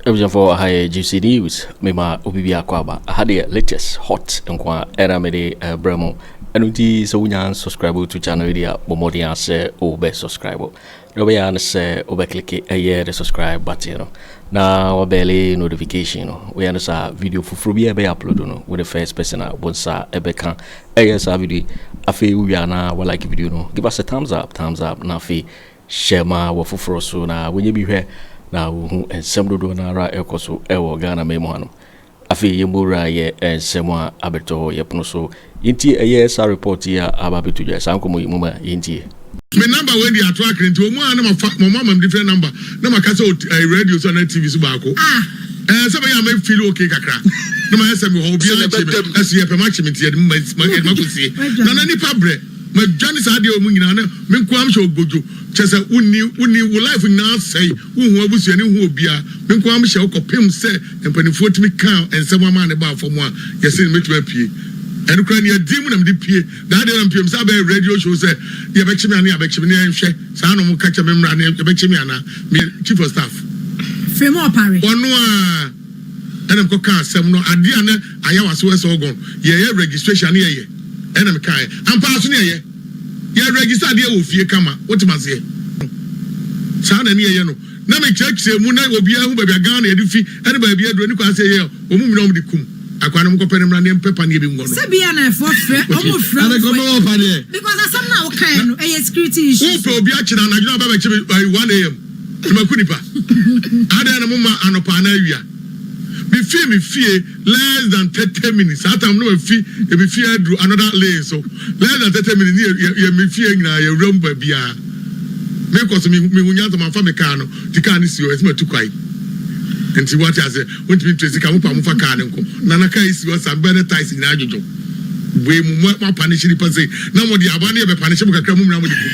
abusuafoɔ aha yɛ juicy news mema obi bi akɔ aba aha deɛ latest hot nko a ɛna mede ɛbrɛ eh, mu ɛno nti sɛ wonya subscribe to channel yi deɛ bɔ mmɔden asɛ wobɛ subscribe Wobɛyɛ ara ne sɛ wobɛklike ɛyɛ the subscribe button no na wabɛle notification no. Woyɛ no saa a, video foforɔ biara ɛbɛyɛ upload no, wo ne first person a wo nsa ɛbɛka ɛyɛ saa video yi. Afei wowie a na walike video no, give us a thumbs up, thumbs up, na afei share ma w'afoforɔ so na wɔnyɛ bi hwɛ na wɔhu nsɛm dodoɔ no ara a ɛrekɔ so ɛwɔ Ghanaman mu hanom. Afei yɛn mu wura yɛ nsɛm a abɛtɔ hɔ yɛ pono so yɛntie ɛyɛ saa report yi a aba abɛto dwa saa nkɔmmɔ yi mu ma yɛntie. Me number wei deɛ ato akere nti ɔmo a na mafa ɔmo amam different number na maka sɛ wɔ ɛɛ radio so anaa TV so baako ah ɛɛ sɛ ɛbɛyɛ a mɛ feel okay kakra na mayɛ sɛ mewɔ hɔ obiara ntie me ɛso yɛpɛ makyem nti yɛde ma ma yɛde ma kɔsie nana nipa brɛ madwane saa adeɛ wɔ mu nyinaa na me nko ara mehyɛ ogodwo kyɛ sɛ wonni wonni wo life nyinaa asɛe wonhu abusuani wonhu obiara me nko ara mehyɛ wokɔ pem sɛ Mpanimfoɔ tumi kaa nsɛm ama a ne baa fam a yɛse no mɛtumi apue. Ɛno koraa nni adin mu na mede pue. Daa deɛ na mepem sɛ abɛyɛ radio show sɛ yɛbɛkye me anaa yɛabɛkye me na yɛnhwɛ saa na wɔka kyerɛ me mmra na yɛbɛkye me anaa meyɛ chief of staff. Firi mu ɔpare. Ɔno a ɛna mekɔ kaa asɛm no adeɛ a na ayɛ wase wɔ Elgon yɛyɛ registration ne yɛyɛ ɛna mekaeɛ ampa ara so ne yɛyɛ yɛ register adeɛ wɔ fie kama wotem aseɛ saa na ne yɛyɛ no. na me kyerɛkyerɛ mu na obiara hu baabi a Ghana yɛde fi ɛne baabi aduro ne kwan sɛ yɛyɛ wɔn mu nyina wɔn de kum akwaa no wɔn kɔpɛ ne mmra ne mpɛ pa ne ebi ngɔ no. Sɛ bia na ɛfoɔ frɛ ɔmo frɛ wo fɛ because asɛm no a wo kaeɛ no ɛyɛ security issue. Wo pɛ obi akyena anadwo na aba bɛkye me by one am na maku nipa adɛn na mo ma anɔpa anaa awia me fie me fie. Less than thirty minutes saa time no na wafi emi fie aduru another lane so less than thirty minutes ne yɛ yɛ me fie nyinaa yɛ wura mu baabiara me kɔ so me me hu nyansa ma nfa me car no ti car no si hɔ ɛsɛ ma tu kwan nti wate ase wontumi ntu esika mo pa mo fa car no nko na na car esi hɔ saa bɛɛ ne ties nyinaa dwodwo bue mu mo mo apanish nipa sei na mo de aboa no yɛ bɛ panish mo kakra mo nyinaa mo de kum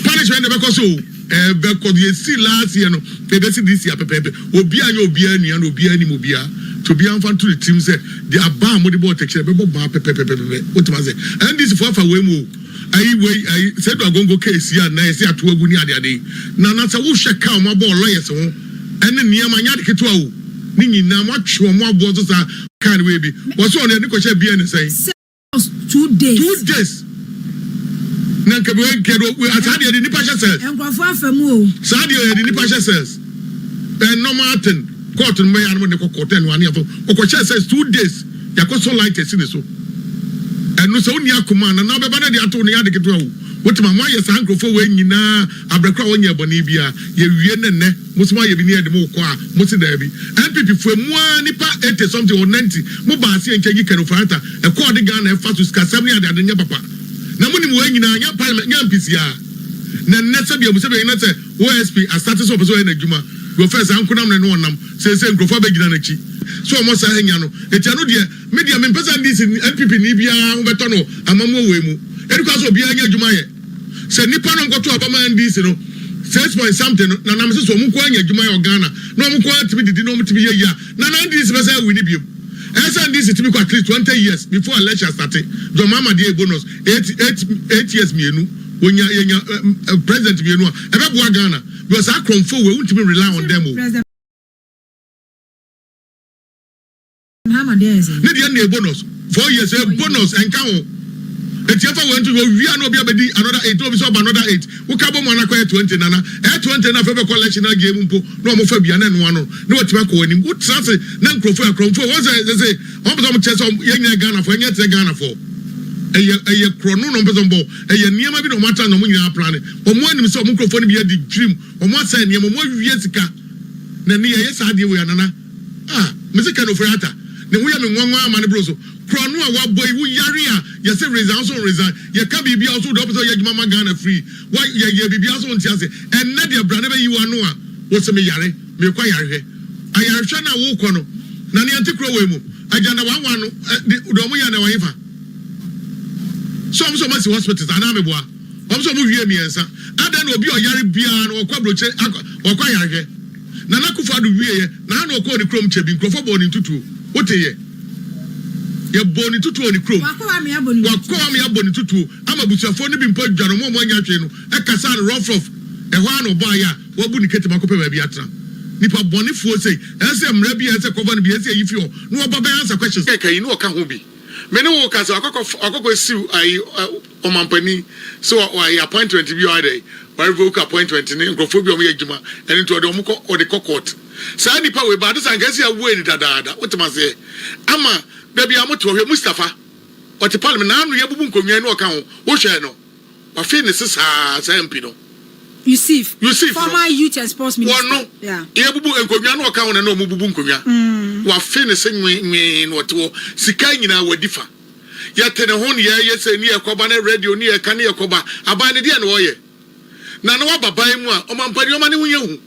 punishment de bɛkɔ so o. Ɛbɛkɔ deɛ ɛsii last year no na ɛbɛsi this year pɛpɛɛpɛ. Obiara nyɛ obiara nua na obiara nnim obiara nti obiara mfa nto ne tirim sɛ deɛ abaa a mode bɔɔ tɛkyerɛ no ɛbɛbɔ baa pɛpɛpɛpɛpɛ. Wotumi ase? NDC foɔ afa wei mu o. Ayi wei ayi Seidu Agongo case yi a nnɛ yɛse ato agu ne adeade yi, Nana sɛ wohwɛ ka a wɔn abɔ wɔ lawyers ho ne nneɛma nyɛ ade ketewa o. Ne nyinaa moatwe wɔn aboɔ so saa. Car no wei bi wɔse wɔde kɔhyɛɛ BNS sɛn? Two days na nka bi wɔn kɛdo wɔ saa deɛ de nipa hyɛ sɛs. Nkurɔfoɔ afa mu o. Saa deɛ yɛ de nipa hyɛ sɛs. Ɛn normal ten court no mɛyɛ anam de kɔkɔ ten wa ne yɛfɔ ɔkɔ hyɛ sɛs two days yakɔ so light ɛsi ne so. Ɛno sɛ wonni akoma na na bɛba na de ato ne yɛ adeketewa o. Wotuma mo ayɛ saa nkurɔfoɔ wɔ nyinaa abrɛkora wɔn nyɛ bɔne biara yɛ wie ne nɛ. Mose mo ayɛ bi ne yɛde mo kɔ a mo se daabi. NPP foɔ emu ara nipa eighty something or ninety mo baa se yɛnkyɛ nyi Ken Ofori-Atta ɛkɔɔ de Ghana ɛfa so sikasɛm ne adeade nyɛ papa. Na mo nim wei nyinaa nyɛ parliament nyɛ mpisiaa. Na nnɛ sɛbi abu sɛbi ɛnyina sɛ OSP asate sɛ ɔpɛ sɛ ɔyɛ n'adwuma deɛ ɔfɛɛ saa nkonammerɛ no ɔnam seesei nkurɔfoɔ abɛgyina n'akyi sɛ ɔmɔ saa hanya no enti ɛno deɛ Me deɛ mempɛ sɛ NDC ne NPP ni biara ho bɛtɔ no amammuo wei mu. Ɛni kwan sɛ obiara nya adwuma yɛ. Sɛ nnipa no nkɔto aba maa NDC no, six point something no, na nam sɛ sɛ wɔn nko ara nya adwuma yɛ wɔ Ghana, na wɔn nko ara tumi didi na wɔtumi yɛ yie a, na na NDC bɛsan awini biom. Ɛyɛ sɛ NDC tumi kɔ at least twenty years before election starte. John Mahama deɛ yɛ bonus, eight, eight, eight years mmienu, wɔnya, yɛnya ɛ, president mmienu a, ɛbɛboa Ghana. Because saa krɔmfoɔ wei, wontumi rely on them o. Ne deɛ nna bonus four years ɛ eh, bonus ɛnka ho Ɛti ɛfa wɛn to owie a na obi abɛdi another eight na obi sɛ ɔba another eight woka bɔ mu anakɔyɛ twenty nana ɛyɛ twenty na afei bɛkɔ election agye mu mpo na wɔn fa bia na ɛnoa no na wɔtumi akɔ anim wotra se na nkurɔfoɔ akorɔmfoɔ wɔn sɛ sɛ wɔn pɛ sɛ wɔn kyɛ sɛ yɛn nyinaa Ghanafoɔ ɛnyɛ te sɛ Ghanafoɔ ɛyɛ ɛyɛ korɔ no na wɔn pɛ sɛ wɔn bɔ ɛyɛ nneɛma bi na wɔn atra na wɔn nyinaa plan wɔn anim sɛ wɔn nkurɔfoɔ no bi adi dwirim wɔn asɛn nneɛma wɔn awie sika na ne yɛ yɛ saa adeɛ wɔ yɛ nana Ah mese Ken Ofori-Atta ne ho yɛ me nwanwa amane bro so kura no a wabɔ yi wo yare a yɛse resign wo so nresign yɛka biribia wo so wode wopɛ sɛ woyɛ adwuma ma Ghana free wa yɛyɛ biribia so wonte ase ɛnnɛ deɛ bra na bɛyi wo ano a wose me yare meekɔ ayarehwɛ ayarehwɛ no a wokɔ no na neɛ nte kuro wei mu agyanda wɔn awa no de deɛ ɔmo yɛ no ɛwɔ hefa sɛ ɔmo sɛ ɔmo asi hospitals anaa meboa ɔmo sɛ ɔmo wie mmiɛnsa adɛn na obi a ɔyare biara no ɔkɔ abrokyire akɔ ɔkɔ ayarehwɛ. Nana Akufo Addo wieɛ na ha na ɔkɔɔ ne kurom kyɛ bi nkurɔfoɔ bɔɔ ne ntutuo. Woteeɛ? Yɛbɔɔ ne ntutuo wɔ ne kurom. Wakɔ hɔ ama yɛabɔ ne ntutuo. Wakɔ hɔ ama yɛabɔ ne ntutuo ama abusuafoɔ no bi mpo adware wɔn a wɔannya hwee no kasaa no rough rough. Ɛhɔ ara na ɔbɔ ayɛ a wabu ne ketem akɔpɛ baabi atena. Nipa bɔnefoɔ sei, ɛsɛ sɛ mmara bi a ɛsɛ sɛ ɛkɔfa no bi ɛsɛ sɛ yɛyi fi hɔ na wɔba bɛ answer questions kɛkɛ yi na ɔka ho bi. Me ne wo rekasa wakɔ akɔsiw ayi. Ɔmampanin sɛ wa wayɛ appointment bi a ɔayɛ dɛ wa revoke appointment no nkorɔfoɔ bi a wɔyɛ adwuma ɛno nti ɔde wɔn kɔ ɔde kɔ court saa nipa wei ba ade sɛ anka ɛsɛ yɛabuai no dadaada wotem aseɛ ama da biara mote hɔ hwɛ Mustafa ɔte parliament naano yɛbubu nkonnwa yi na ɔka ho wo hwɛɛ no wafe ne se saa saa MP no Yusuf Yusuf no former youth and sports minister wɔno yeah. yɛbubu nkonnwa na ɔka ho na na wɔbubu nkonnwa mm. wafe ne se nwenwen na ɔte hɔ sika nyinaa wadi fa. Yɛte ne ho nea ɛyɛ sei ne ɛkɔba na radio ne ɛka ne ɛkɔba. Aban no deɛn na ɔyɛ? Na na waba ban mu a ɔmampa nneɛma no ho nyɛ hu.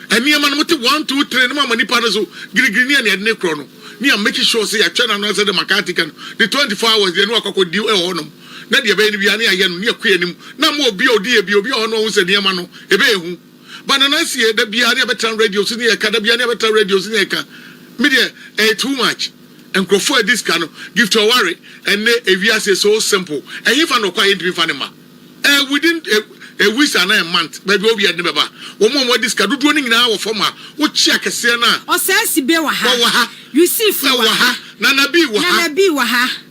Nneɛma no mote one two three no moama nipa no so girigiri ne nea ɛde no korɔ no ne yɛ make sure sɛ yɛatwɛn ano ara sɛ deɛ McCarthy ka no ne twenty four hours deɛ ne wakɔ akɔ di wɔ hɔ nom na deɛ ɛbɛyɛ no biara ne yɛayɛ no ne yɛkɔ yɛn anim na ama obi a ɔdi yɛ bi obi wɔ hɔ no ɔhu sɛ nneɛma no ɛbɛyɛ hu. But Nana Nsie da biara ne yɛbɛtra radio so ne yɛka da biara ne yɛbɛtra radio so ne yɛka me deɛ ɛyɛ too much nkurɔfoɔ a ɛdi sika no Gift Ɔware ɛnɛ ewiase is so simple ɛhefa na ɔkɔ a yɛntumi mfa ne mma ɛɛ within a, a weeks anaa a month baabi a obiara de ne bɛba wɔn a wɔadi sika dodoɔ no nyinaa wɔ fam a wokye akɛseɛ no a Ɔsɛe Sibe wɔ ha, Yusifu wɔ ha, Nana Bii wɔ ha.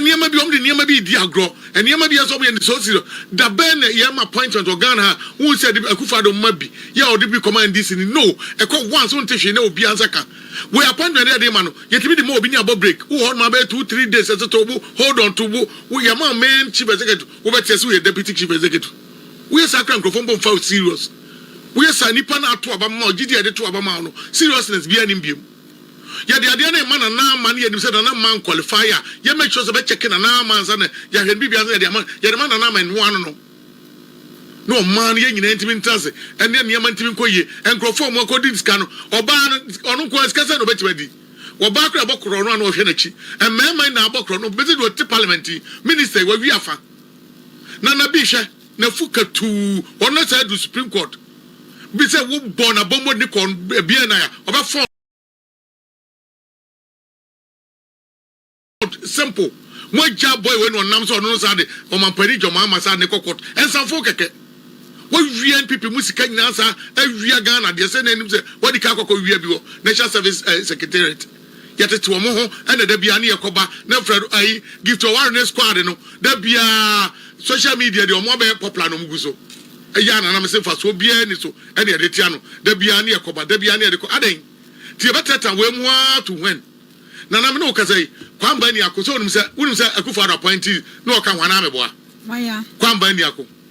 nneɛma bi wɔn de nneɛma bi redi agorɔ nneɛma bi yɛ sɛ wɔn yɛ ne so si da bɛn na yɛn ma appointment wɔ ghana ha wɔn sɛ ɛde akufado mma bi yɛ a ɔde bi kɔma ndc ni no ɛkɔ once wɔn te hwee na obi ansa ka wɔ appointment yɛ de ma no yɛtumi de ma obi ne abɔ break wɔ hɔ nom abɛyɛ two three days ɛsɛ tɔ wo hold on to wo wo yɛ ma main chief executive wo bɛ te ɛsɛ yɛ deputy chief executive wo yɛ saa kura nkurɔfoɔ mbɔ nfa serious wo yɛ saa nipa na ato aba ma ɔgye di ɛde to aba ma ɔno seriousness bi anim biem. Yɛde adeɛ no rema Nana Ama ne yɛnim sɛ Nana Ama nqualify a, yɛ make sure sɛ bɛ check Nana Ama ansa na yɛahwɛ no biribiara ansa na yɛde ama no. Yɛde ma Nana Ama nhoaa no nom na ɔmaa no, yɛn nyinaa ntumi ntena ase ɛne nneɛma ntumi nkɔ yie. Nkurɔfoɔ a wɔn akɔdi ne sika no, ɔbaa no, ɔno nko ara sika sɛn na ɔbɛtumi adi? Ɔbaa koraa ɛbɔ korɔ no a na ɔhwɛ n'akyi. Mmarima nyinaa bɔ korɔ no, bɛsi deɛ ɔte parliament yi, minister yi, wawie afa. Nana Bi hwɛ. N'afu katuu hɔ na saa du supreme court bi sɛ wo bɔ na bɔ mmɔdene kɔ bia na ya ɔbɛ fɔn simple mo agya boy wei na ɔnam sɛ ɔno no saa de ɔmampani dwama ama saa ne kɔ court ɛnsanfo kɛkɛ wawia npp mo sika nyinaa saa awia Ghana deɛ sɛ na anim sɛ wadi ka akɔkɔ wia bi wɔ national service secretariat Yɛtete wɔn ho na da biara ne yɛkɔba na Fred ayi Gift ɔware ne squad no da biara social media deɛ wɔn abɛyɛ popular na wɔn gu so yɛ ana na mese mfasoɔ biara ni so ɛna yɛde tea no da biara ne yɛkɔba da biara ne yɛde kɔ adɛn ti yɛbɛtɛta wei mu ara to when Nana me ne wo kasa yi Kwamba Niako sɛ wonim sɛ wonim sɛ Akufo-Addo appointee na ɔka ho anaa meboa Kwamba Niako.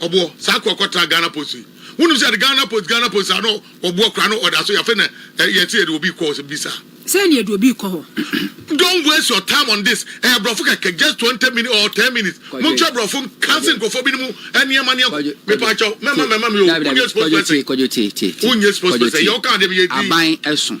Ɔboɔ saa kɔ kɔ tra Ghana post yi wo nim sɛ Ghana post Ghana post saa no ɔboɔ kora no ɔda so yɛfɛ na yɛte yɛde obi kɔ hɔ sɛ bi saa. Sɛ ne yɛde obi kɔ hɔ. Don't waste your time on this ɛyɛ brɔfo kɛkɛ just twenty minutes or ten minutes mo nkyɛ brɔfo nkanse nkurɔfoɔ bi no mu nneɛma nneɛma mepa kyɛw mɛma mɛma me o wo nyɛ spokesperson wo nyɛ spokesperson yɛ wo ka adeɛ bi yɛ din.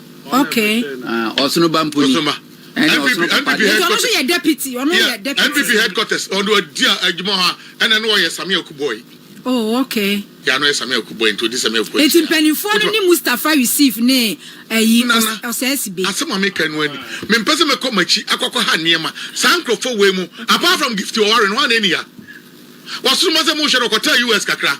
Okay. Ah, Ɔsono ba mponi. Ɔsono ba. Ɛne Ɔsono papa deɛ. Nti ɔno nso yɛ deputy, ɔno yeah. yɛ deputy. NPP headquarters, ɔno ɔdi adwuma hɔ a, ɛna no ɔyɛ Sami Akubɔi. Oh, okay. Yɛ ano yɛ Sami Akubɔi, nti ɔdi Sami Akubɔi. Nti mpanimfoɔ no ne Mustafa Yusuf ne ɛyi ɔsɛɛsi be. Asɛm a meka no ani, mempɛ sɛ mɛkɔ m'akyi akɔkɔ ha nneɛma. Saa nkurɔfoɔ wei mu, apart from Gifty Ɔware no, hwan na ɛni ya? Ɔsono ba sɛ mohwɛ no, ɔkɔtɛɛ US kakra.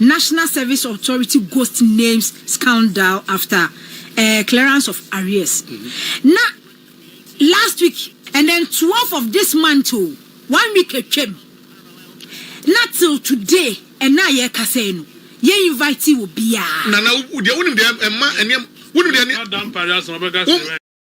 National Service Authority Ghost Names Scandal After eh, Clearance of Arrears. Na last week. And then twelve of this month o, one week atwam. Na till today, ɛnnɛ a yɛrekasa yi no, yɛn invitee obiara. Nana, wo deɛ wonim deɛ ɛma ɛnneɛma wonim deɛ ɛnneɛma. Ɔda mpare asɛm ɔbɛka sɛ.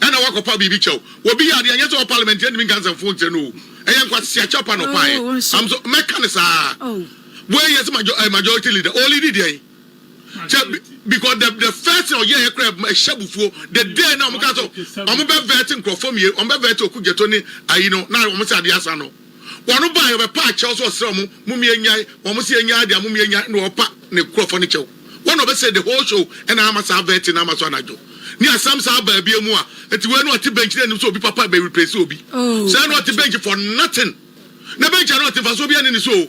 Ɛna wakɔpaw biribi kyɛw. Obi yɛ ade a ɛnyɛ sɛ ɔwɔ parliament a ɛntumi nka nsɛmfoo nkyerɛ no o. Ɛyɛ nkwasase akyɛw pa na ɔpaeɛ. I'm so mɛka no saa. Wei yɛ sɛ major, eh, majority leader. Ɔɔ leadi deɛn? Kyɛ bi- because the the first thing ɔyɛɛ yɛ koraa ɛma ɛhyɛ abufuo. The day na wɔn kaa sɛ wɔn bɛ vɛɛte nkorɔfoɔ mmienu, wɔn bɛ vɛɛte Oku Gyɛtɔ ne ayi no na wɔn sɛ adeɛ asa no. Wɔn baeɛ wɔbɛpa akyɛw sɛ ɔsrɛ wɔn mom yɛnyae wɔn se yɛnyae deɛ mom yɛnyae na ɔpa ne nkurɔfoɔ no kyɛw wɔn na ɔbɛsɛe the whole show ɛna ama saa vetting no ama so anadwo ne asɛm saa baa bia mu a nti wei no ɔte bench na nim sɛ obi papa bɛ replace obi sɛɛ na ɔte bench for nothing na bench a na ɔte mfasoɔ bia ne ne so o.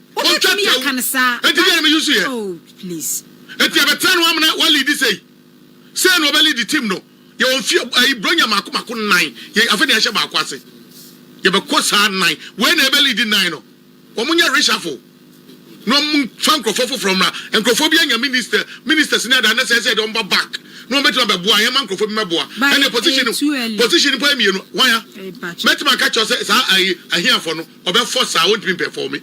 Wobɛtumi aka no saa. Enti deɛ na me susu yɛ. Oh please. Enti yɛbɛtra no amena wa leadi sei. Sei na ɔbɛ leadi team no. Yɛwɔ mfie ayi bronya mako mako nnan. Yɛ afei na yɛahyɛ baako ase. Yɛbɛkɔ saa nnan. Wei na ɛbɛ leadi nnan no. Wɔn nyɛ reshuffle. Na wɔn mfa nkorɔfoɔ foforɔ mmra. Nkorɔfoɔ bi anya minister ministers ne adeɛ anasɛ ɛsɛ yɛde wɔn ba back. Na wɔn bɛtumi abɛboa a yɛn ma nkorɔfoɔ bi mmɛboa. Ɛnna position position mpo yɛ mmienu. Hwan a? Mɛtumi aka kyerɛ wo sɛ saa ayi ahiafoɔ no. Ɔbɛfɔ saa, ɔntumi mpɛfɔɔme.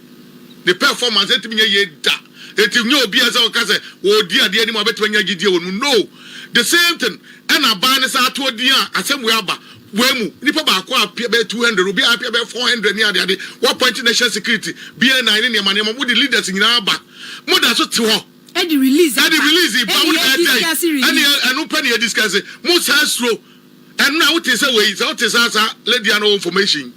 Ne pɛfɔmanse ntumi nyɛ yie da. Enti nyɛ obiara sɛ ɔka sɛ ɔredi adeɛ anim a ɔbɛtumi anya gyidie wɔ ne mu. No! The same thing ɛna abaa ne saa atoɔ din a asɛm wei aba wei mu. Nnipa baako apia bɛyɛ two hundred, obi apia bɛyɛ four hundred ne adeade. Wɔapɔinte national security, BNI ne nneɛma nneɛma. Mode leaders nyinaa aba. Moda so te hɔ. Ɛde release aba. Ɛde release ba. Ɛne yɛn discuss release. Ɛne ɛno pɛ na yɛdiscuss. Mosaa suro. Ɛno a wote sɛ wei sɛ wote saa saa lady ano wɔ information.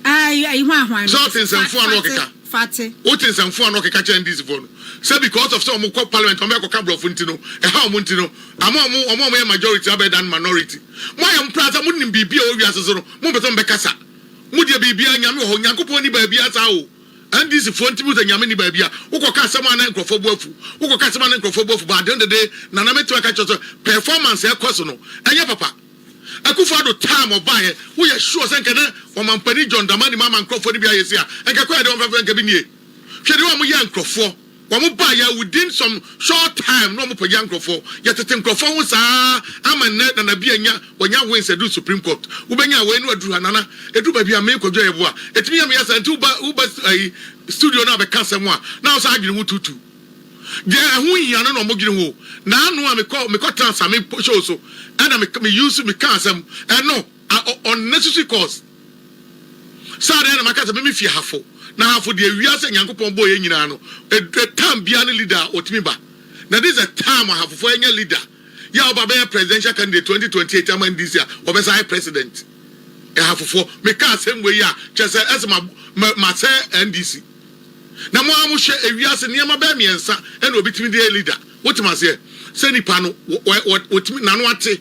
Ɛɛ ayi hwan hwan. Sɛ wote nsɛmfo ano ɔkeka. Fate. Wote nsɛmfo ano ɔkeka kyɛ NDC foɔ no sɛ because of sɛ wɔn kɔ parliament wɔn bɛ kɔ ka brɔfo nti no ɛha wɔn nti no ama wɔn wɔn a wɔn yɛ majority abɛ dan minority. Mo ayɛ mpra sɛ mo nim biribi a ɛwɔ wiase so no mo mpɛ sɛ mo bɛ kasa. Mo deɛ biribi a nyame wɔ hɔ nyankopɔn ni baabi a saa o. NDC foɔ nti muhu sɛ Nyame nni baabi a wokɔka asɛm a na nkurɔfoɔ bo afu wokɔka asɛm a na nkurɔfoɔ bo afu but adeɛ no dede Nana mɛtumi aka kyerɛ sɛ performance a ɛkɔ so no ɛnyɛ papa Akufo Addo time ɔbaeɛ woyɛ sure sɛ nka na Ɔmampanin John Dramani Mahama nkurɔfoɔ no bi ayɛ sei a nka kwan a yɛde wɔn bɛfa so nka bi nie hwɛ deɛ wɔyɛ nkurɔfoɔ Wɔn baa yɛ within some short time na wɔn pagya nkorɔfoɔ. Yɛ tete nkorɔfoɔ ho saa ama nnɛ Nana Bi anya wanya wins aduru Supreme Court. Wo bɛ nya wei na waduru ha Nana. Ɛduru baabi a me Kwadwo a yɛ boa. Ɛtumi yɛ me ya saa nti wo ba wo ba ayi studio na bɛka asɛm a na wo saa adwene ho tuutuu. Deɛ ɛho nhia no na wɔn dwene ho. Naano a me kɔ me kɔ tena Same show so ɛna me me use me ka asɛm ɛno. A ɔ unnecessary cost sɛ adɛn na maka sɛ meme fie hafo na hafo deɛ wiase a Nyankopɔn bɔɔ yɛn nyinaa no ɛ time biara ne leader a ɔtumi ba na this is the time a hafofoɔ ɛnyɛ leader yɛ a ɔba bɛyɛ presidential candidate 2028 ama NDC a ɔbɛsan ayɛ president ɛ hafofoɔ meka asɛm wei a kyerɛ sɛ ɛsɛ ma ma masɛe NDC na mo ara mo hwɛ ɛ wiase nneɛma bɛɛ mmiɛnsa ɛna ɔbɛtumi de yɛ leader wotem aseɛ sɛ nipa no wɔ wɔ wɔtumi nano ate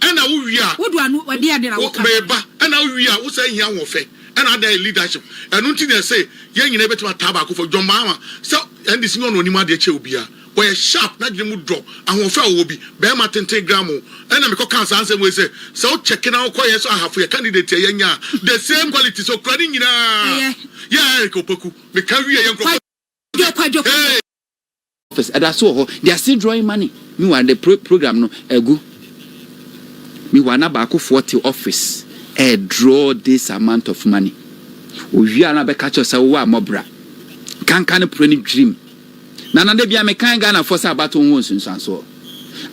ɛna wo wie a wo meba ɛna wo wie a wo san hia ahoɔfɛ ɛna adan yɛ leadership ɛno nti na ɛse yɛn nyina yɛbɛtumi ataa baako fɔ John Mahama sɛ NDC nyɛ ɔna ɔnim adeɛ kyɛ obia ɔyɛ sharp n'adwene mu dɔ ahoɔfɛ a ɔwɔ bi bɛɛma tenten gram o ɛna mekɔ kaa saa nsɛm wei sɛ sɛ wo check na wokɔ yɛ so ahafo yɛ candidate yɛ yɛnya the same qualities ɔkura ne nyinaa yɛ Eric Opoku meka wie yɛ nkorɔfo hey. Office ɛda so wɔ hɔ they are still drawing money meanwhile the pro program no agu meanwhile na baakofoɔ te office ɛɛ draw this amount of money owie a na bɛka kyerɛ sɛ wowɔ a mɔbra kanka no pore no dwirim na na da bia mekan Ghanafoɔ sɛ abato ho nsunsuansoɔ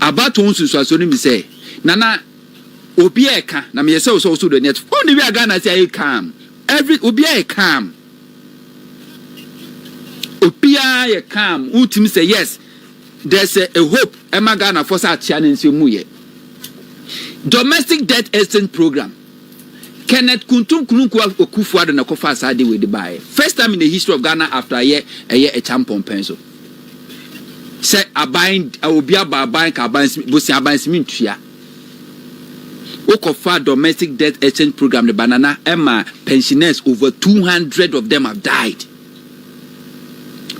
abato ho nsunsuansoɔ no mi sɛ na na obi ɛka na meyɛ sɛ wo sɛ wo so do ani ato oh ne wie a Ghana sɛ ayɛ calm every obi ayɛ calm Obiara yɛ calm, wotumi sɛ yes, there's a, a hope ɛma Ghanafoɔ sɛ akyea no nso emu yɛ. Domestic debt exchange program, Kenneth Kuntum Kununku Akufo-Addo na ɛkɔfaa saa de wei de baeɛ. First time in the history of Ghana after ayɛ ɛyɛ ɛkya mpɔmpɛn so. Sɛ aban, obi aba aban ka aban, bosia aban simi ntua. Wokɔfaa domestic death exchange program no banana ma pensioners over 200 of them have died.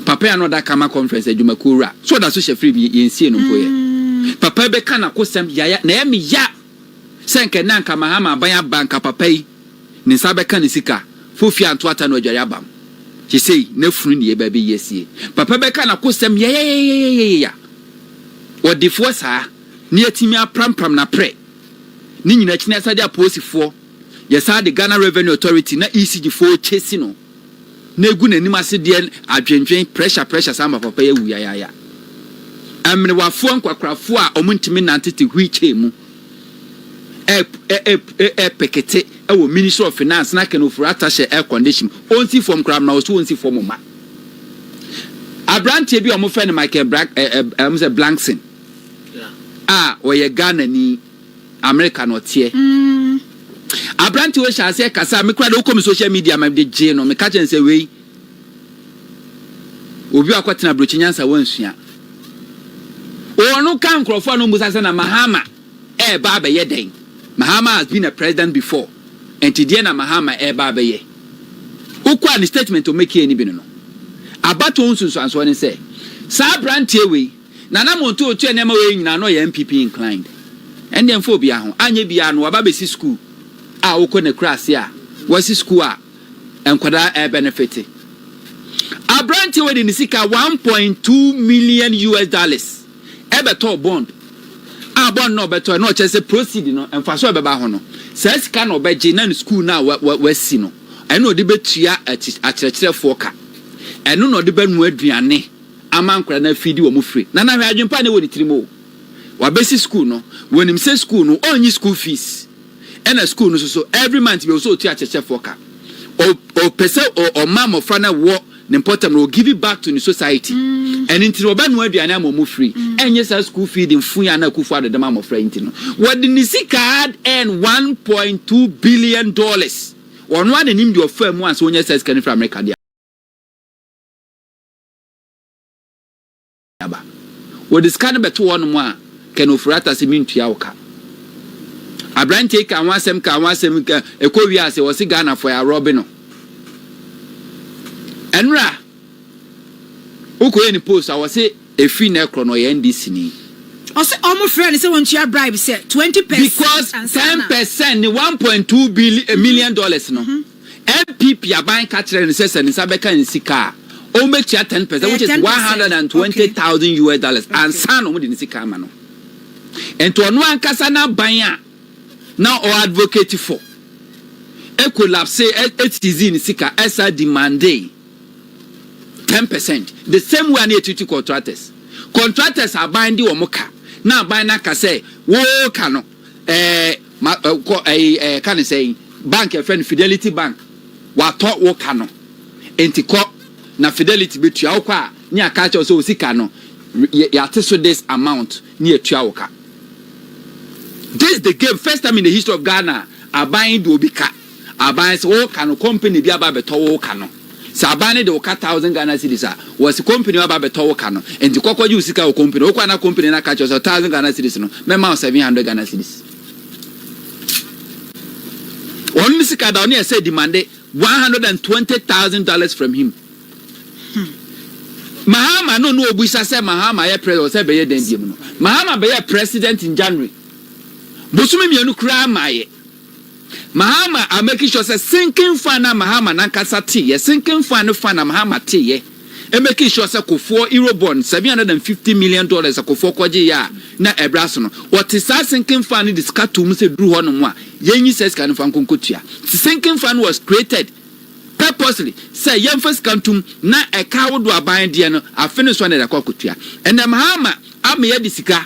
Papa ya no ɔda kama conference adwumakuo wura so ɔda so hyɛ free bi yɛnsie no mpo yɛ. Mm. Papa bɛka n'akosɛm yaya na ɛyɛ me ya sɛ nka na nka Mahama aban aba nka papa yi ne nsa bɛka ne sika fofie anto ata no adware abam. Sesei n'afunu ne yɛ baabi yɛsie. Papa bɛka n'akosɛm yayayayayaya ɔdefoɔ saa. ne yɛatumi aprampram n'aprɛ ne nyina kyene asade apolisifoɔ yɛsaa de Ghana Revenue Authority na ECG foɔ chase no na egu n'anim ase deɛ adwendwen pressure pressure saa ma papa yi awu yayaaya ɛmenewafoɔ nkwakorafoɔ a ɔmo ntumi nnante te wheel chair mu ɛpekete ɛwɔ Ministry of Finance na Ken Ofori Atahyɛ air condition ɔnsi fam koraa mena ɔso ɔnsi fam mma abranteɛ bi a ɔmo fɛ no Michael Blank ɛɛ ɛɛ ɛɛ Blankson a ɔyɛ Ghanani, America na ɔteɛ. Aberante wei hyɛɛ aseɛ kasa a me koraa de wokɔ me social media ma mede gyee no meka kyerɛ no sɛ wei obi a kɔtena aburokyi nyansa wansua. Ɔno ka nkurɔfoɔ a no mmusa sɛ na Mahama ɛreba abɛyɛ dɛn? Mahama has been a president before ɛnti deɛ na Mahama ɛreba abɛyɛ. Wokɔ a ne statement ɔmɛkie ne bi no no abatoɔ ho nsunsuansoɔ ne sɛ saa aberanteɛ wei Nana Monto otua nneɛma wei nyinaa na ɔyɛ NPP inclined. Ɛndeɛ mfa obiaa ho. Anyɛ biaa no waba abɛsi school a wokɔ no akurase a wasi school a nkwadaa ɛɛbɛnefete. Abranteɛ wei de ne sika one point two million US dollars ɛbɛtɔɔ bond a bond no a ɔbɛtɔɛ no ɔkyerɛ sɛ proceed no mfasoɔ a ɛbɛba ho no saa sika no ɔbɛgye na ne school no a wasi no ɛno na ɔde bɛtua akyerɛkyerɛfoɔ ka ɛno na ɔde bɛnoa aduane ama nkwadaa no afiri de wɔn firi. Nana hwɛ adwene pa a na ɛwɔ ne tirim o. Wabɛsi sukuu no, wɔnim sɛ sukuu no ɔnnyi sukuu fees ɛna sukuu no soso every month biara ɔsɛ ɔtua akyerɛkyerɛfoɔ ka. Ɔ ɔpɛ sɛ ɔ ɔma mmɔfra no a ɛwɔ ne mpɔtam no wɔ give back to ne society. Ɛno nti no ɔbɛnoa aduane ama wɔn free ɛnyɛ saa sukuu fee de mfuyɛ a na Akuffo Addo de ma mmɔfra yi nti no. Wɔde ne sika hard earn one point two billion dollars. Ɔno ara na ɛnim deɛ ɔfaa mu ansa ɔnya saa sika no firi Amerika deɛ. aba. Wɔde sika no bɛto hɔnom a, Ken Ofori-Atta se mentua wo ka. Aberanteɛ yi kaa ho asɛm kaa ho asɛm, ɛkɔ wie ase ɔse Ghanafoɔ yɛ arɔbe no. Ɛnora wokɔ yɛ ne post a ɔse ɛfiri nɛ korɔ no ɔyɛ NDC ni. Ɔse ɔmo frɛɛ no sɛ ɔntua bribe sɛ 20 percent ansa na. Because 10 percent ne 1.2 billi million dollars no. NPP aban ka kyerɛɛ no sɛ sɛ ne nsa bɛka nsika a, ɔbɛtua ten pɛsɛnt, which is one hundred and twenty thousand US dollars, ansa na wɔde ne sika ama no. Enti ɔno ankasa n'aban a na ɔ advocate for collapsee ɛsizii ne sika ɛsa demandee ten pɛsɛnt, the same way a na yɛtutu contractors. Contractors aban de wɔn ka, na aban no aka sɛ wɔka no. Ɛɛ ma ɛ kɔ ɛyi ɛ ka ne sɛ yi bank ɛfɛ no Fidelity bank watɔ wo ka no nti kɔ na Fidelity bɛtua wo kɔ a ne aka kyɛw sɛ osi ka no yate so this amount ne atua wo ka this the game first time in the history of Ghana aban de obi ka. Aban se wo ka no company bi aba abɛtɔ wo ka no. Se aban no de wo ka thousand Ghana cedis a, wɔ se company bi aba abɛtɔ wo ka no. Enti kɔ kɔgye wo sika wɔ company. Wo kɔ a na company no aka akyerɛ wo sɛ thousand Ghana cedis no, mɛma wo seven hundred Ghana cedis. Wɔn ne sika da, wɔn yɛ sɛ demande one hundred and twenty thousand dollars from him. Hmm. Mahama no no obusa sɛ Mahama yɛ president wɔ sɛ bɛyɛ dɛn biem no. Mahama bɛyɛ president in January. Bosome mmienu koraa maayɛ. Mahama are making sure sɛ sinking fan no a Mahama nankasa teeɛ, sinking fan no fan a Mahama teeɛ, ɛ making sure sɛ Kofoɔ Eurobond seven hundred and fifty million dollars a Kofoɔ kɔgyeeɛ a na ɛbrɛ aso no, ɔte saa sinking fan no de sika too mu sɛ duru hɔnom a, yɛnyi saa sika no mfa nkɔ nkɔtua. Nti sinking fan no was created purposely sɛ yɛmfa sika nto mu na ɛka ahodoɔ aban deɛ no, afe no nso a na yɛde akɔ akɔtua. Ɛnnɛ Mahama ama yɛde sika.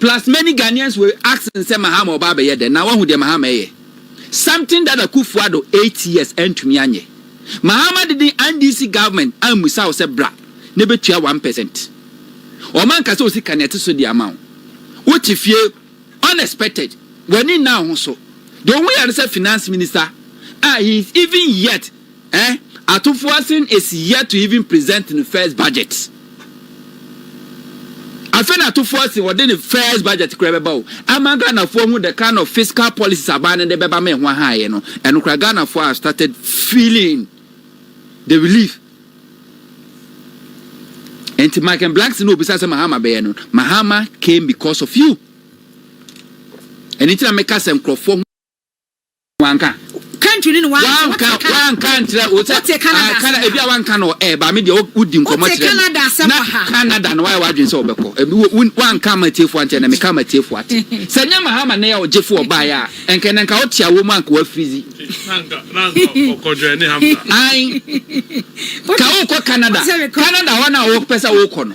Plus many Ghanaians were asking sɛ Mahama ɔba abɛyɛ dɛn? Na wahu deɛ Mahama ɛyɛ? Something that Akuffo Addo eight years antumi anyɛ. Mahama didn't NDC government ammisa wo sɛ bra na bɛtua one percent. Wɔn anka sɛ wo sika no ɛte so de ama wo. Wo te fie unexpected, w'ani nna wo ho so. Deɛ wo ho yɛ no sɛ finance minister a he is even yet Eh Atufoasen is yet to even present ne first budget. Afei na Atufoasen ɔde ne first budget koraa bɛba o. Ama Ghanafoɔ ahu the kind of fiscal policies aban no de bɛba ma ɛho aha yɛ no, ɛno koraa Ghanafoɔ have started feeling the relief. Nti Mike and Blacks no obisa sɛ Mahama bɛyɛ no, Mahama came because of you. Ɛno nti na meka sɛ nkurɔfoɔ ho. Wanka. Country ne ne wa. Wanka wanka nkyerɛ wo sɛ. Wote Canada asɛm wɔ ha. Ebi a wanka no ɛɛ ba mi deɛ wodi nkɔmɔ kyerɛ mi. Wote Canada asɛm wɔ ha. Na Canada na wayɛ wadwene sɛ ɔbɛkɔ. Ebi wo wo wanka ama atiefo ankyɛ na meka ama atiefo ate. Sɛ nyɛ Mahama ne yɛ ɔgyefo ɔbaeɛ a ɛnkɛ nɛ nka wote awɔ mu anka wafrizi. Na anka na anka ɔkɔ joine Hamza. Ae. Ka wokɔ Canada. Canada hɔ na wopɛ sɛ wokɔ no.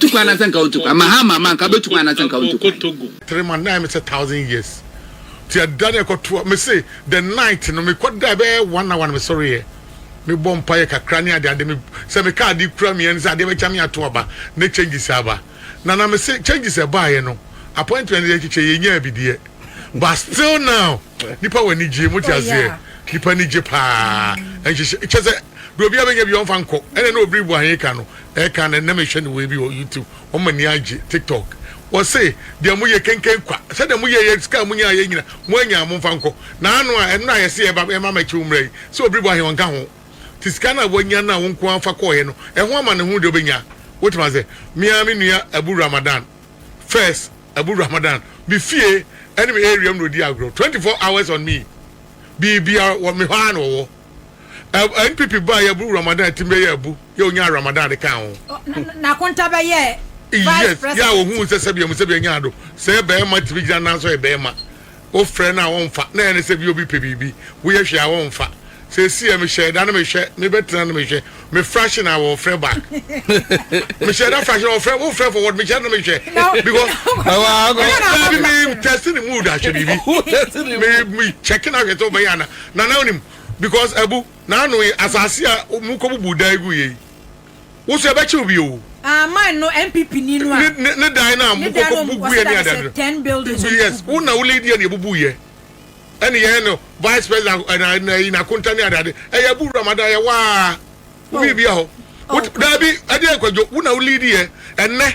Tu kwan anasɛ nka wontu kwan. Mahama ma nka bɛtu kwan anasɛ nka wontu kwan. Three months na ayɛ me sɛ thousand years nti ɛda no ɛkɔtoa me se the night no me kɔ da ɛbɛyɛ one hour no me sɔre yɛ me bɔ mpa yɛ kakra ne ade ade me sɛ me ka ade kura me ani sɛ adeɛ bɛkya me ato aba ne changes aba na na me se changes ɛbaayɛ no appointment yɛ kyekyɛ yɛ nyaa bi deɛ but still now. Nipa wɔ anigyeɛ mu wote aseɛ nipa ani gye paa nhyehyɛ kyɛ sɛ deɛ obiara bɛnya bi ɔmfa nkɔ ɛna na obiri bu aheka no ɛka no ɛnna mehwɛ ne wei bi wɔ youtube wɔn ani agye tiktok wɔse deɛ mo yɛ kenken kwa sɛ deɛ mo yɛ yɛ sika mo nyinaa yɛ nyina mo anya mo mfa nkɔ na ano a ɛno na yɛse ɛba ɛma ma kyew mmerɛ yi sɛ obiri bu ahe ɔnka ho te sika no a wanya no a wo nko afa kɔɔyɛ no ɛho ama ne ho deɛ obɛnya wotema sɛ mea me nua abu ramadan first Abu Ramadan, me fie ne me area mu na ɔdi agorɔ, 24 hours on me, biribiara wɔ me hɔ ara na ɔwɔ. Ɛ, NPP baeɛ, Abu Ramadan tim bɛyɛ Abu, yɛ ɔnyaa Ramadan de kaa ho. Ɔ, na, na, na Konta bɛyɛɛ Vice Yes, yɛ a President. ɔhuu sɛ sɛbea mu sɛbea nyaa do, sɛ bɛɛma tumi gyina nan so yɛ bɛɛma. Wofrɛ no a wɔmfa, na ɛne sɛ bi obi pɛ biribi. Woyɛ hwee a wɔmfa. Seesei a mehyɛɛ da no mehwɛ, mebɛtena no mehwɛ, me fraction a wɔfrɛ back. Mehyɛɛ da fraction a wɔfrɛ, wofrɛ forward, mehyɛ no mehwɛ. Because, daabi me test ne mood ahwɛ biribi. Me, me check no ahwɛ sɛ wobɛyɛ ana. Nana wonim, because abu, n'ano yi, asase a mokɔbubu dan gu yɛ yi. Wo so yɛbɛkye wo bi oo. Ah man no NPP ni no a. Ne ne ne dan no a mo kɔ kɔ bu gu yɛ ne adeade no. Ten buildings ɔmo yes wo na wo lead yɛ ne yɛ bubu yɛ ɛne yɛ no vice president ɛna ɛna yi na konta ne adeade ɛyɛ bu wura ma da yɛ waa. Obi bi a hɔ. Daabi ɛdeɛ nkwadwo wo na wo lead yɛ ɛnɛ.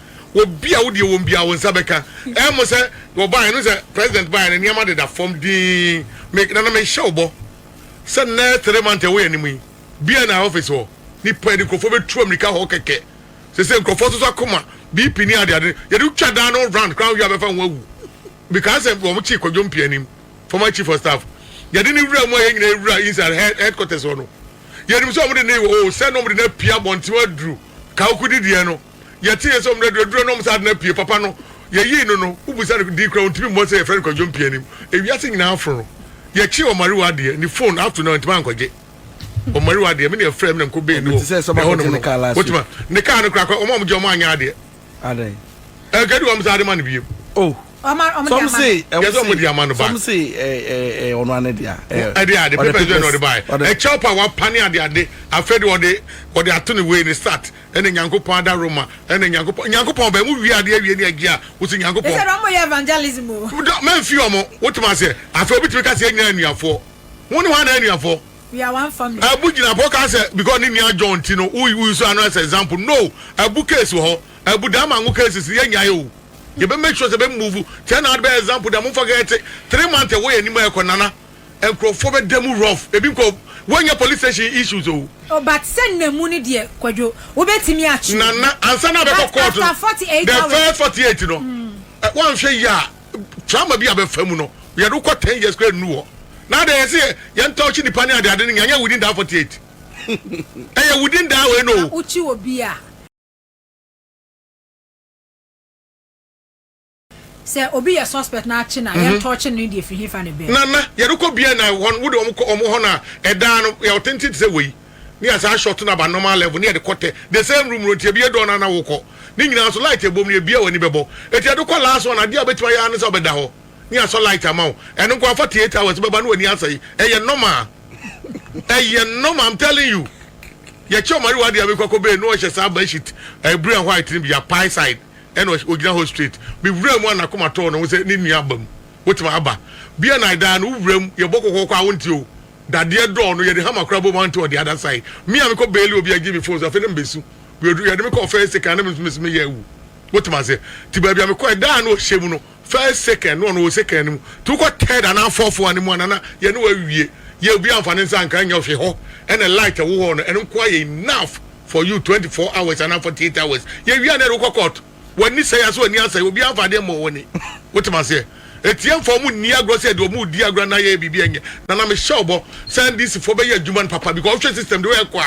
Wɔ bi a wo deɛ wɔn biaa wo nsa bɛka ɛɛ mo sɛ wɔbaeɛ no sɛ president baeɛ no nneɛma deda fam dinn me na na mehyɛ wo bɔ sɛ nnɛ three month ɛwɔ yɛn anim yi biaa na office hɔ nipa yɛde nkurɔfoɔ bɛtu amirika hɔ kɛkɛ sese nkurɔfoɔ soso akoma BP ne ade ade yɛde wotwa daa no round koraa wohwɛ a bɛfa ho awu because sɛ wɔn kyi kwadwo mpia anim former chief of staff yɛde ne wura mu a yɛn nyinaa wura inside headquarters hɔ no yɛnim sɛ wɔn de ne wɔ o sɛ na wɔn de no apia abɔnten aduru kaokudi deɛ no Yɛteeɛ sɛ ɔmmrɛ duradura na ɔm saa ade no apue. Papa no, yɛyii no no. Wobisa no din koraa ɔntumi mmɔ sɛ yɛfrɛ no Kwadwo Mpianim. Ewiase nyinaa aforo no. Yɛkyee Ɔmariwa adeɛ, ne phone, up to now ntumi ankɔgye Ɔmariwa adeɛ. Me na yɛfrɛɛ me na mekɔ bɛɛ ni wɔ ɛhɔnom no. Wotumi a, ne car no koraa kɔ, ɔm a ɔm gye ɔm anyɛ adeɛ. Ɛnkadi hɔ ɔm saa de ma no biom. Oh, some say, yɛsɛ ɔm de ama no back. Some say, ɛɛ, ɔno ane dea. Ɛde ade, papers bɛɛ na ɔde baɛ. Ɛkyɛw pa, wapane ade ade, afei de ɔde, ɔde ato ne wei, ne start. Ɛna Nyankopɔn ada Roma ɛna Nyankopɔn Nyankopɔn ɔbɛn mo wie adeɛ awie ne agyie a wo se Nyankopɔn. Ɛsɛ dɛ ɔmo yɛ evangelism o. Dɔ mɛ nfi ɔmo wo toma seɛ afei obi tumi ka sɛ yɛn nyinaa yɛ anuafoɔ wo ne hwan na yɛ anuafoɔ. We are one family. Abu gyina pɔ ka sɛ because ne nua John nti no wo wo use ano as example no Abu case wɔ hɔ Abu daa mango cases no yɛ nyae o yɛ bɛ make sure sɛ bɛ move kyɛ na ade bɛyɛ example da mo nfa kɛkɛ te three month ɛwɔ yɛ anim a ɛkɔ nana. Nkurɔfoɔ bɛda mu rough. Ebi nkɔ wɔnyɛ police station issues o. Oh but sɛ nna mu no deɛ kwadwo wobɛtumi atwe obi Nana ansa na abɛkɔ but court no after forty eight the hours first forty eight no ɛ wanhwɛ yie a trauma bi a bɛfa mu no yɛde wo kɔ ten years koraa nnu hɔ na adɛn yɛse yɛ yɛn touch nipa ne ade ade no nyɛ ɛnyɛ within that forty eight ɛyɛ within that wei no na o. wokyi obi a. Sɛ obi yɛ suspect na akye no a, yɛn tɔɔkye no deɛ firi hefa na ɛbɛɛ. Nana, yɛrekɔ bia na wɔn wode wɔn kɔ wɔn hɔ na ɛdan no yɛ ɔtenten te sɛ wei. Ne yɛ saa short no aba normal level ne yɛde kɔ tɛ the same room no nti ɛbɛyɛ dɔɔ na na wokɔ ne nyinaa so light ɛbom no ɛbia w'ani bɛbɔ ɛti ɛde kɔ last one adeɛ a wobɛtumi ayɛ ara ne sɛ wobɛda hɔ ne yɛasɔ light ama wo ɛno nko afa te eight hours wobɛba ne w'ani asɛe ɛyɛ normal ɛyɛ normal I'm telling you yɛkyɛ ɔmari wɔ adeɛ a mekɔ kɔ bɛɛ no ɔhyɛ saa bashit ɛbiri and white no bi apae side ɛna ogyina hɔ straight me wura mu a nakoma tɔɔ ne ho sɛ ne nua aba mu wotema aba bia na ɛdaa no wo wura mu yɛbɔ kɔkɔ kɔ a wonte o dadeɛ dɔɔ no yɛde hammer kora bom a wonte on the other side me a mekɔ bailey obi agye me phone so afei na mebesu yɛde me kɔɔ first second na mesu meyɛ awu wotema ase nti baabi a mekɔ ɛdaa no ɔhyɛ mu no First second no ɔno wɔ second no mu nti wokɔ third anaa fourth one no mu a nana yɛne wo awie yɛ obiara mfa ne nsa nka nyɛ hwe hɔ ɛna light ɛwɔ hɔ no ɛno nko ara yɛ enough for you twenty four hours anaa forty eight hours yɛwie a na yɛde wokɔ court w'ani sɛe ase w'ani asɛe obiara mfa adeɛ mmɔ w'ani wote m'aseɛ ɛtiɛ mfa ɔmo nni agorɔ sɛ deɛ ɔmo redi agorɔ anaa yɛyɛ biribi a ɛnyɛ nana mehyɛ ɔbɔ sɛ NDC foɔ bɛyɛ adwuma no papa because wohwɛ system de ɛkɔ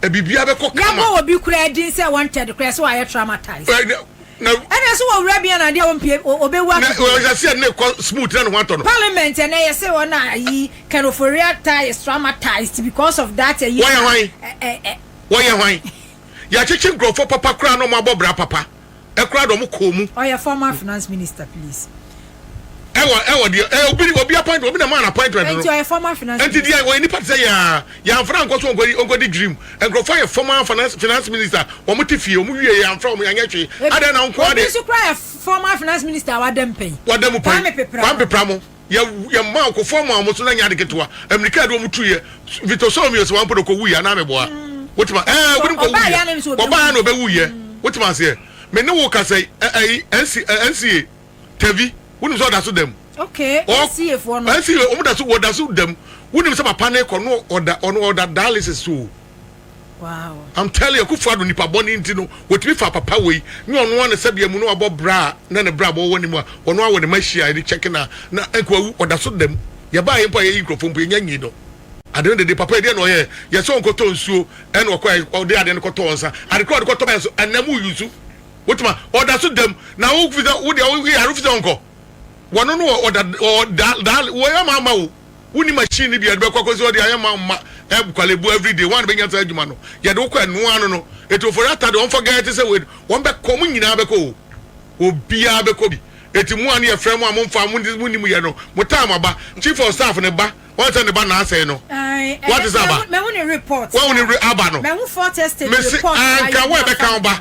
a biribiara bɛkɔ kama. Yɛabɔ obi koraa din sɛ wanted koraa sɛ wayɛ traumatized. Na. Ɛna so wɔ wura bi ana adeɛ a ɔmpie ɔbɛwu akɛkɛ. Na ɔyɛ sɛ na ɛkɔ smooth na ne ho atɔ no. Parliament ɛna ɛyɛ sɛ ɔna ayi can Ofori-Atta is traumatized because of that ayi. Wɔyɛ hwan? Wɔyɛ hwan? Yɛakyekye nkurɔfoɔ papa koraa na wɔabɔ bra papa koraa na wɔkɔɔ mu. Ɔyɛ former finance minister please ɛwɔ ɛwɔ deɛ ɛ obi obi appointment obi na maa na appointment no. ɛnti ɔyɛ former finance minister. ɛnti deɛ ɔyɛ nipa ti sɛ yaa yanfra nkɔ so nkɔ nkɔ di dream nkurɔfoɔ yɛ former finance finance minister wɔn ti fie wɔn wie yanfra wɔn yanyɛ hwee adan na nko ade. obi nso kura yɛ former finance minister a wada mu pɛn. wada mu pɛn kwame pepra kwame pepra mo yɛ yɛ mmaa okofoɔ mu a wɔn so na nyɛ ade ketewa amirika yɛ de wɔn tu yɛ vito sɔɔ mi yɛ sɛ wɔn apɔ de kɔ wu yɛ anaa mi bɔ a mm. wotuma ɛɛ wɔn kɔ wu yɛ ɔbaa yɛ na ɔbɛ wu yɛ mm. wotuma aseɛ mɛ ne wo kasa ɛɛ nca. tɛvi wonim sɛ ɔda so dam okay nca foɔ no nca wɔn da so wɔda so dam wonim sɛ papa ne kɔ no ɔda ɔno ɔda dialysis so wow i'm telling you kufu ado nipa bɔ ne nti no wɔtumi fa papa wei nyɛ ɔno ano sɛdeɛ mu no abɔ bra na ne bra bɔ wɔ ne mu a ɔno awɔ ne ma hyia ne kyɛke na na nkoawu ɔda so dam yɛbaa yɛ mpo a yɛyi nkurɔfoɔ mpo yɛnya nyi no ade no dede papa ɛdeɛ na ɔyɛ yɛsɛ ɔnkɔtɔ nsuo ɛna ɔkɔ ɔde ade no kɔtɔ nsa ade kora ɔde kɔtɔ bɛyɛ so ɛnam yusu Wotuma ɔda so dam na wo fi sɛ wo deɛ wo yare fi sɛ ɔnkɔ. Wɔno no wɔ ɔda wɔ da da wɔ yɛ maa ma wo. Wo ni machine ni bi yɛde bɛkɔ akɔsi hɔ deɛ ayɛ ma ma ɛb kwalebo every day wɔn bɛnya saa adwuma no yɛde wokɔ ɛnoa ano no eti ofori ata deɛ wɔn fɔ gɛɛ te sɛ wei wɔn bɛkɔ wɔn nyinaa bɛkɔ o obiara bɛkɔ bi eti mo a ne yɛ frɛ mo a mo nfa mo mo ni mo yɛ no mo taa mo aba chief of staff ne ba wɔn sɛ ne ba na asɛe no wɔn te sɛ aba wɔn ne aba no mesi anka wɔn ɛbɛka wɔn ba.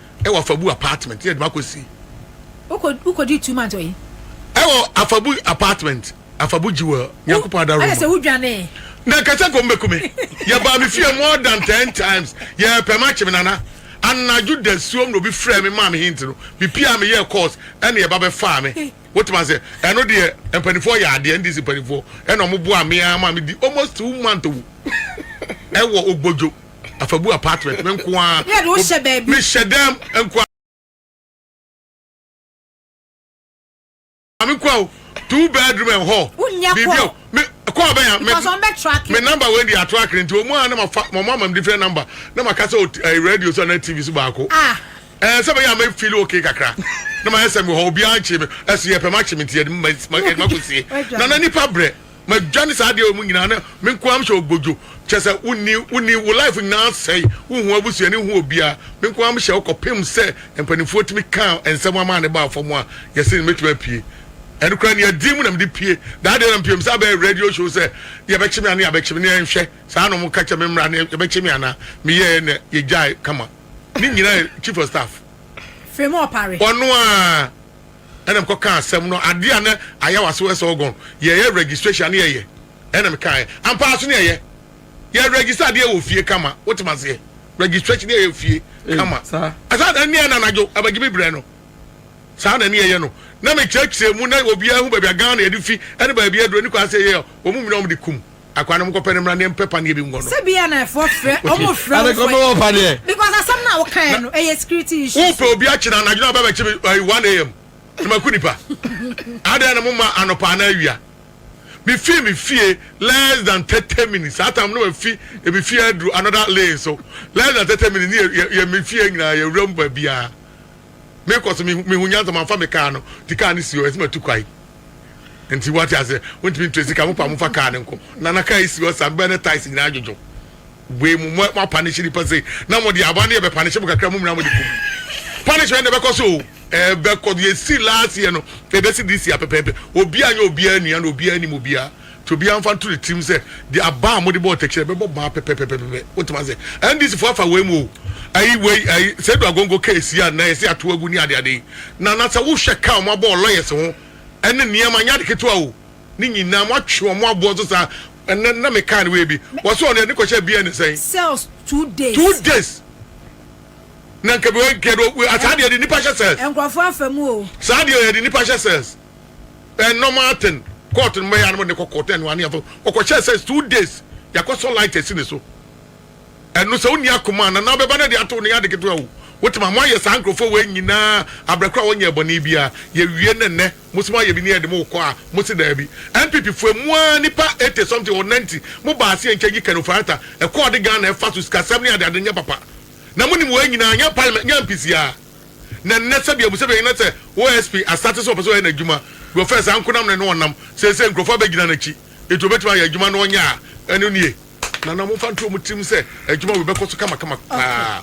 Ɛwɔ Afabu apartment yɛ de ma kɔ si. Wokɔ wokɔ di two months ɔyi. Ɛwɔ Afabu apartment Afabu jewel Nyankopɔn adaro mu. Ɛna sɛ wodwane. Na kɛsɛ kɔm bɛkume yɛ baa me fie more than ten times yɛ pɛ ma kye me nana anadwo da suom na obi frɛ me maa me hint no me pia me yɛ course ɛna yɛ ba bɛ faa me wote ma sɛ ɛno deɛ mpanifoɔ yɛ adeɛ ndc mpanifoɔ ɛna ɔmo boa me aa ma me di almost two months owu ɛwɔ ogbodwo. afabu apartment me nko ara mehyɛ dɛm nko ara me nko ara two bedroom and hall biribi a me kɔɔ bɛn a me number wei de ato akere nti wɔn a na ma fa wɔn ama me different number na ma kasa eh, radio so na tv so baako ah. ɛɛ eh, sɛ bɛyɛ a ma feel okay kakra na ma yɛ sɛ mi hɔ obiara nkye mi ɛso yɛ pɛ ma kye mi nti yɛ de ma ma kɔ sie na na nipa brɛ. Madwane saa adeɛ wei mu nyinaa na me nko ara mehyɛ ogodwo kyerɛ sɛ wo nni wo nni wo life nyinaa asɛe wo nhu abusuani wo nhu obiara me nko ara mehyɛ wo kɔ pem sɛ mpaninfoɔ tumi kaa nsɛm amaa ne baa fam a yɛsee no mɛtumi apue ɛno koraa nia din mu na mede pue daa deɛ na mepiem sɛ abɛyɛ radio show sɛ yɛbɛkye me anaa yɛabɛkye me ne yɛnhwɛ saa na ɔmo ka kyɛ me mmra ne yɛbɛkye me anaa meyɛɛ na yɛgyae kama ne nyinaa yɛ chief of staff Fremu Opare. ɔno aa. ɛna mekɔ kaa asɛm no adeɛ a na ayɛ wɔ aseɛ wɔ Elgon yɛyɛ registration ne yɛyɛ ɛna mekaeɛ ampaa so ne yɛyɛ yɛ register adeɛ wɔ fie kama wotem aseɛ registration ne yɛyɛ fie kama ɛsaa na ne yɛ na anadwo abagye me berɛ no saa na ne yɛyɛ no na mekyerɛkyerɛ mu na obiara hu baabi a Ghana yɛde fi ɛne baabi aduro ne kwan sɛ yɛyɛ wɔn mu nyinaa wɔn de kum akwa no mokɔpɛ no mmra ne yɛmpɛ paneɛ bi nkɔ no sɛ bia na ɛfoɔ frɛ ɔmo frɛ wo fo paneɛ because asɛm no a wokaeɛ no ɛyɛ security issue wopɛ obi akyena anadwo no abɛbɛkye me 1am no maku nipa adɛn na moma anɔpa anaa awia mefii me fie less than 30 minutes saa tam no mafi ebi fie aduru another lane so less than 30 minutes ne yɛ me fie nyinaa yɛwura mu baabiaa me kɔ so me me hu nyansa ma nfa me car no ti car no si hɔ ɛsɛ ma tu kwae nti wate ase wɔn ntumi ntu sika mo pa mo fa car no nko na na car esi hɔ saa bɛn ne ties nyinaa adwodwo wei mu mo mo apanish nipa sɛ na mo de aba ne yɛ bɛ panish mo kakra mo nyinaa mo de kum panish wɛn na ɛbɛkɔ so o ɛbɛkɔ yɛ si last year no ɛbɛsi this year pɛpɛɛpɛ obi anyɛ obiara nua na obiara nim obiara Nti obiara mfa nto ne tirim sɛ deɛ aba a mode bɔɔ tɛkyerɛ bɛbɔ baa pɛpɛpɛpɛpɛ. Wotumi ase? NDC foɔ afa wei mu o. Ayi wei ayi Seidu Agongo case yi a nnɛ yɛse ato agu ne adeade yi. Na na sɛ wohwɛ ka a wɔn abɔ wɔ lawyers ho ɛne nneɛma nyɛ ade ketewa o. Ne nyinaa moatwe wɔn aboɔ so saa. Ɛnnɛ na me kaa no wei bi. Wɔse wɔn deɛ ne kɔhyɛ biara ne sɛn? Cells two days. Two days. Na nka bi wɔ nka yɛde asaa deɛ yɛde nnipa hyɛ cells. Nkurɔfoɔ afa mu o. Saa deɛ yɛde nnipa hyɛ cells. eh, normal thing court no mɛyɛ anamɔ ne kɔ court ɛnu aniafo ɔkɔhyɛ sɛ two days yakɔ sɔ light ɛsi ne so ɛnu sɛ ɔni akoma na na bɛba na de ato ne yade ketewa o wotuma mo ayɛ saa nkurɔfoɔ wɔ nyinaa abirɛkora a wɔnyɛ ɛbɔne bia yɛwie ne nnɛ mo sɛ mo ayɛ bi ne yɛde mo kɔ a mo se daabi npp foɔ mu a nipa eighty something or ninety mo baa se nkyɛn yi kɛno farata ɛkɔɔ de Ghana ɛfa so sikasɛm ne adeade nyɛ papa na mo nim wɔ nyinaa nyɛ parliament nyɛ mpisiaa Na nnɛ sɛdeɛ abusua bɛyi na sɛ OSP asate sɛ ɔpɛ sɛ ɔyɛ n'adwuma deɛ ɔfɛɛ saa nkonam ne no ɔnam seesei nkurɔfoɔ abɛgyina n'akyi enti ɔbɛtumi ayɛ adwuma no ɔnyɛ a ɛno nie na na momfa nto wɔn tirim sɛ adwuma wei bɛkɔ so kamakama paa.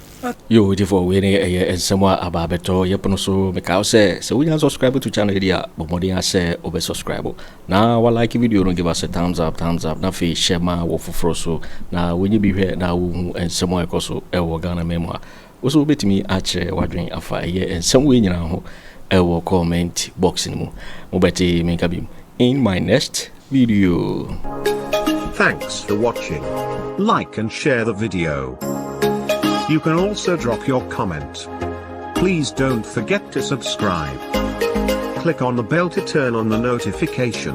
Yoo gyefo wei ne ɛyɛ nsɛm a aba abɛtɔ yɛ pono so meka wo sɛ sɛ wonya subscribe to channel yi deɛ a bɔ mmɔden ara sɛ wo bɛ subscribe na wa like video no give us a thumbs up thumbs up na afei share ma wɔ foforɔ so na wonye bi hwɛ na wo hu nsɛm a ɛkɔ so ɛwɔ Ghana man mu a Wo nso wobɛtumi akyerɛ w'adwene afa ɛyɛ nsɛm wei nyinaa ho wɔ comment box no mu. Mobɛte me nka biom in my next video. Thanks for watching. Like and share the video. You can also drop your comment. Please don't forget to subscribe. Click on the bell to turn on the notification.